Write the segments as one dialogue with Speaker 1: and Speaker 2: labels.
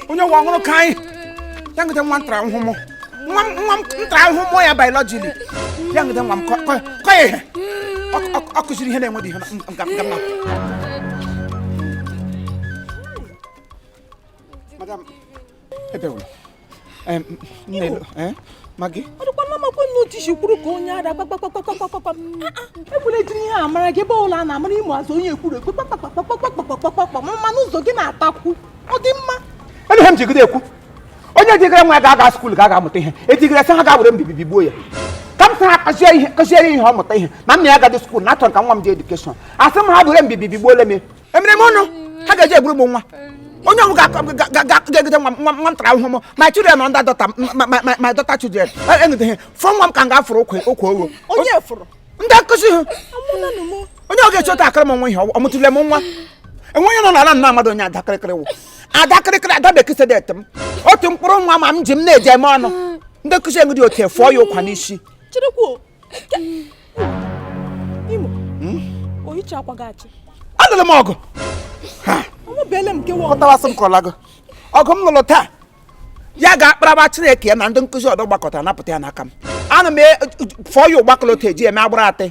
Speaker 1: onye nwa ọ wụrụ ka anyị ya jide nwa m tara ahụhụ mụọ nwa m nwa m tara ahụhụ mụọ ya biologili ya jide nwa m kụ kụ- kụọ ya ihe Ọ- ọ- ọ kụziri ihe na-enweghị ihe na- m- m- m- m- Madam, ebe wụrụ Magị ọ dịkwa na
Speaker 2: amakwa nna otishi kwuru ka onye ada kpakpakpakpakpakpakpakpa ekwula ejiri ihe amara gị ebe ọbụla a na-amara ịmụ azụ onye ekwuru ekwu kpakpakpa ma mmanụ ụzọ gị na-atakwu ọ dị mma ele ihe m
Speaker 1: jigide ekwu onye jigara nwa ya ga-aga skuul ga ga-amụta ihe ejigara sị ha ga were mbibi bigbuo ya ka m sị ha kụziere ihe ọ mụta ihe na nna ya agadị skuul na achọrọ ka nwa m ji edukeshọn asị m ha were mbibi bigbuole m emere m ọnụ ha ga-eji egburu m nwa onye ọnwụ ga-egote nwa nwa m tara ahụhụ mụọ my children and the daughter my daughter children anything for nwa m ka m ga-afụrụ okwe okwe owo
Speaker 2: ndị nkụzi
Speaker 1: ha onye ọ ga-echi otu akụrụ m nwa ihe ọ mụtụle m nwa enweghị nọ n'ala nna mmadụ onye adakịrịkịrị wụ adakịrịkịrị ada bekee sedet m otu mkpụrụ nwa m a m ji m na-eji eme ọnụ ndị nkụzi enwe dị otu efụọ ya ụkwa n'isi
Speaker 2: Imo, hmm? oyicha akwa gị achị. Alụla m
Speaker 1: ọgụ. Ọmụbeele m nke
Speaker 2: nwa. Kọtawasị m
Speaker 1: kọlago. Ọgụ m lụrụ taa. Ya ga-akparaba Chineke ya na ndị nkụzi ọdọ gbakọtara napụta ya n'aka m. Ana m e, fọọ ya ụgbakọlọta eji eme agbụrụ atị.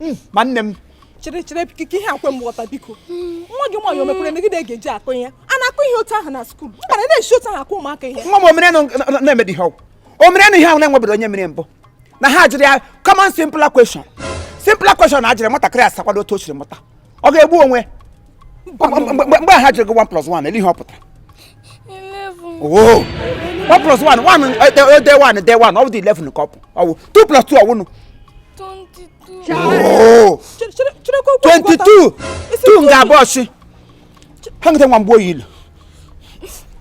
Speaker 1: Hmm, ma nne m. Chere chere
Speaker 2: ka ihe a kwe m ghọta biko. Hmm. Nwa gị nwaanyị o mekwere megide ga-eji akụ ihe. A na-akụ ihe otu ahụ na skuul. Mba na-esi otu ahụ akụ ụmụaka ihe. Nwa m o
Speaker 1: mere na-emedi ihe ọ wụ. O merenụ ihe ahụ na-enwebedị onye mere mbụ. na ha jụrụ ya common simple question simple question a jụrụ nwatakịrị asakwado otu o siri mụta ọ ga-egbu onwe mgbe ha jụrụ gị 1 plus 1 ele ihe ọ pụtara
Speaker 3: oh! one plus
Speaker 1: one one eh, eh, eh, day one day one ọ bụdị 11 ka ọ bụ ọ bụ 2 plus 2 ọ
Speaker 3: wụnụ Oh!
Speaker 1: 22 2 nga abụọ si ha jide nwa m gbuo ya ilu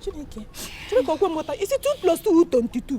Speaker 1: Chineke, Chineke okwe mmụta isi 2
Speaker 2: plus 2 22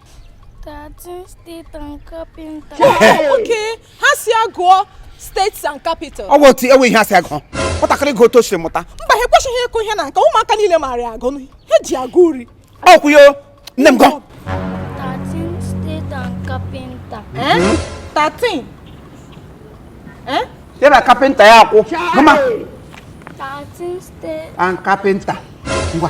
Speaker 1: 13
Speaker 3: states and carpenter.
Speaker 2: okay ha sị ya gụọ states and capital ọ bụ otu enwe ihe asị agụ
Speaker 1: nwatakịrị gụọ otu o siri mụta mba ha ekwesịghị ịkụ ihe
Speaker 2: na nke ụmụaka niile maara agụ ha ji agụ uri ọ kwụ yo
Speaker 1: nne m gụọ
Speaker 3: 13 states
Speaker 2: and
Speaker 1: carpenter 13 eh ya na carpenter ya akwụ mama 13
Speaker 3: states and
Speaker 1: carpenter ngwa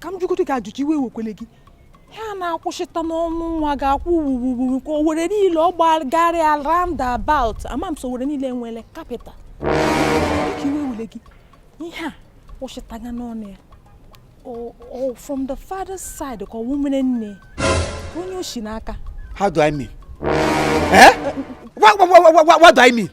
Speaker 2: ka m jụgodo gị ajụjụ iwe ewekwele gị ihe a na-akwụsịta n'ọnụ nwa ga-akwụ wuwuwu ka Owerri niile ọ gbagharịa roundabout ama m so Owerri niile nwere capital biko iwe ewele gị ihe a kwụsịtaga n'ọnụ ya o from the father's side ka ọ wụ umere nne onye o si n'aka how do i mean
Speaker 1: eh? what, what, what, what, what do i mean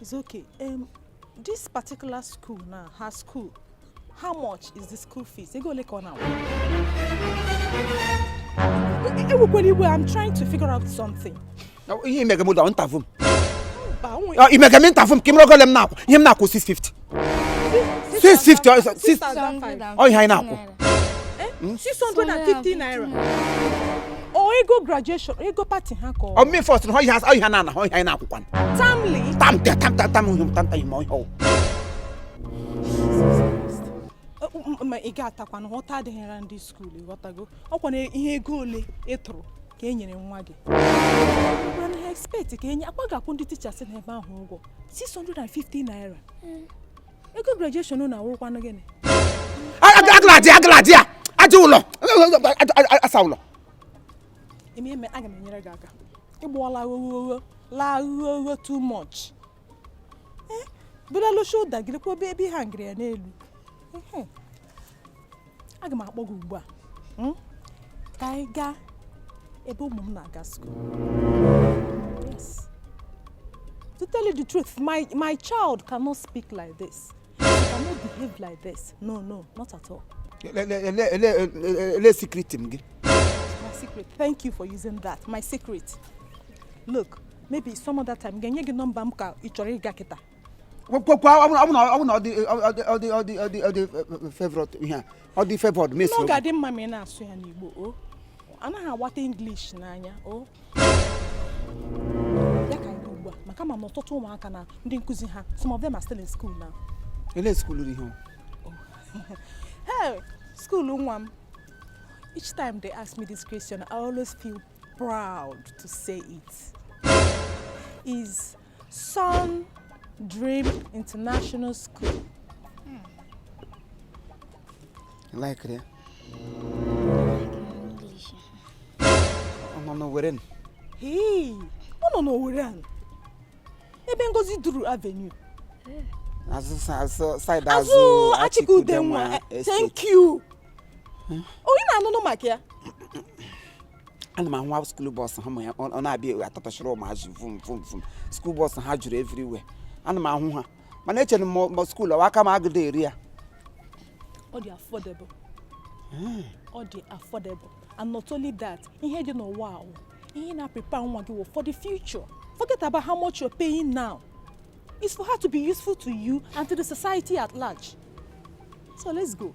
Speaker 2: It's okay. Um, this particular school now, her school, how much is the school fees? Ego ole ka ọ na-akwụ? Ewekwala iwe, I'm trying to figure out something. Ihe i mega
Speaker 1: m wụla interview m. Mba, o nwere- I mega m interview m ka ị mara ego ole m na-akwụ. Ihe m na-akwụ 650. ọ ihe anyị na-akwụ 650
Speaker 2: naira ọ ego graduation ego party ha ka ọ mmefọ sị na ọhịa ọhịa
Speaker 1: na ana ọ ihe anyị na-akwụkwa termly term
Speaker 2: term term term term ihe term term ihe ọhịa ọ wụ ma ị ghọtakwa na nghọta adịghịra ndị school ghọtago ọkwa na ihe ego ole ị tụrụ ka e nyere nwa gị gwara na ha expect ka enye akwa ga-akwụ ndị teachers na ebe ahụ ụgwọ 650 naira hmm. ego
Speaker 1: graduation
Speaker 2: na awụrụkwanụ gịnị agalaji agalaji a
Speaker 1: aja
Speaker 2: ụlọ
Speaker 1: asa ụlọ
Speaker 2: eme eme aga m enyere gị aka i gbuola oghoghogho laa oghoghogho too much eh, bulala shoulder gị lekwa ebe ebe ị hangịrị ya n'elu aga m akpọ gị ugbu a hmm? ka anyị gaa ebe ụmụ m na-aga school to tell you the truth my my child cannot speak like this he cannot behave like this no no not at all.
Speaker 1: ele secret m gị. my
Speaker 2: secret thank you for using that my secret look maybe some other time ga-enye gị nọmba m ka ị chọrọ ịga kịta kwekwa ọ bụ
Speaker 1: na ọ dị favorite ihe a ọ dị favored mes ọ ga-adị mma ma ị
Speaker 2: na-asụ ya n'Igbo o anaghị agwata English na ya o ya ka anyị ugbu a maka ma na ọtụtụ ụmụaka na ndị nkụzi ha some of them are still in school now ele school
Speaker 1: ruru
Speaker 2: ihe hey school nwa m each time they ask me this question I always feel proud to say it is Sun Dream International
Speaker 1: School. Like ya. Ọ nọ n'Owere nụ. Hii,
Speaker 2: ọ nọ n'Owere ahụ. Ebe Ngozi Duru Avenue. Azụ sa-
Speaker 1: azụ- side Azụ azụ Achike
Speaker 2: Udenwa. Estate. Thank you. Onye na-anụnụ maka ya?
Speaker 1: ana m ahụ nwa school bus ha ma ya ọ na-abịa ebe a atụtụchara ụmụazị vum vum vum school bus ha juru everywhere ana m ahụ ha mana echere m ma school ọwa aka m agadị eru ya
Speaker 2: ọ dị affordable ọ dị affordable and not only that ihe dị n'ụwa wụ ihe na-prepare nwa gị for the future forget about how much you're paying now it's for her to be useful to you and to the society at large so let's go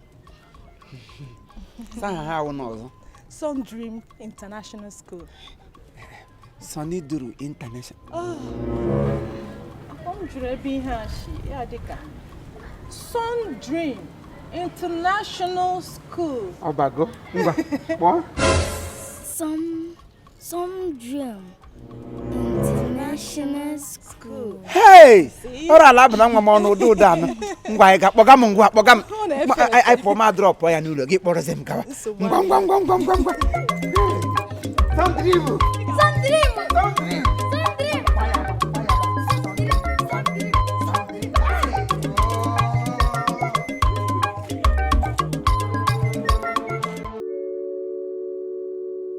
Speaker 2: saha ha awụ n'ụzọ Sun Dream International
Speaker 1: School. Sunny Duru International. Ah. Ọ m jụrụ ebe ihe a
Speaker 2: si ya dịka Sun Dream International School. Ọbago, ngwa,
Speaker 1: kpọọ. Sun
Speaker 3: Sun Dream International School.
Speaker 1: Hey! Ọrụ ala abụ na nwa m ọnụ ụdị ụdị anụ. Ngwa ị ga-akpọga m ngwa kpọga m. Anyị pụọ ma drọpụ ya n'ụlọ gị kpọrọzi m gawa. Ngwa ngwa ngwa ngwa ngwa ngwa. Sun Dream. Sun Dream. Sun Dream.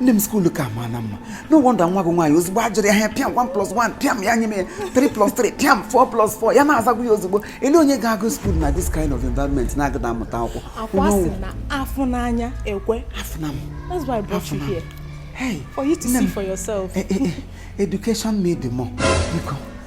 Speaker 1: nne m skuulu ka ma na mma no wonder nwa gị nwaanyị ozugbo a jụrụ ya ihe a pịam 1 plus 1 pịam ya nye m ya 3 plus 3 pịam 4 plus 4 ya na-azagbu ya ozugbo elee onye ga-aga skuulu na this kind of environment na-agadị amụta akwụkwọ ọkwa a sị
Speaker 2: na afụ n'anya ekwe afụna m
Speaker 1: that's why I
Speaker 2: brought you here hey for you to
Speaker 1: see for
Speaker 2: yourself eh, eh, eh, education
Speaker 1: made the more biko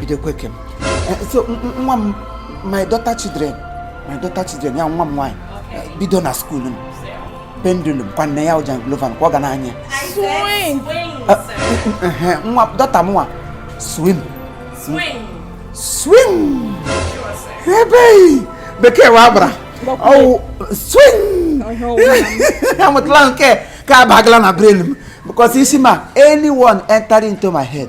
Speaker 1: bidokweke so nwa m my daughter children my daughter children ya nwa m nwaanyị bido na skuul m pendulum kwa nne ya ọ janglova kwa ọ ga na-anya nwa daughter m nwa swing swing ee bekee wụ agbara ọ wụ swing amụtala m nke ka abagala na brain m because isi m a anyone enter into my head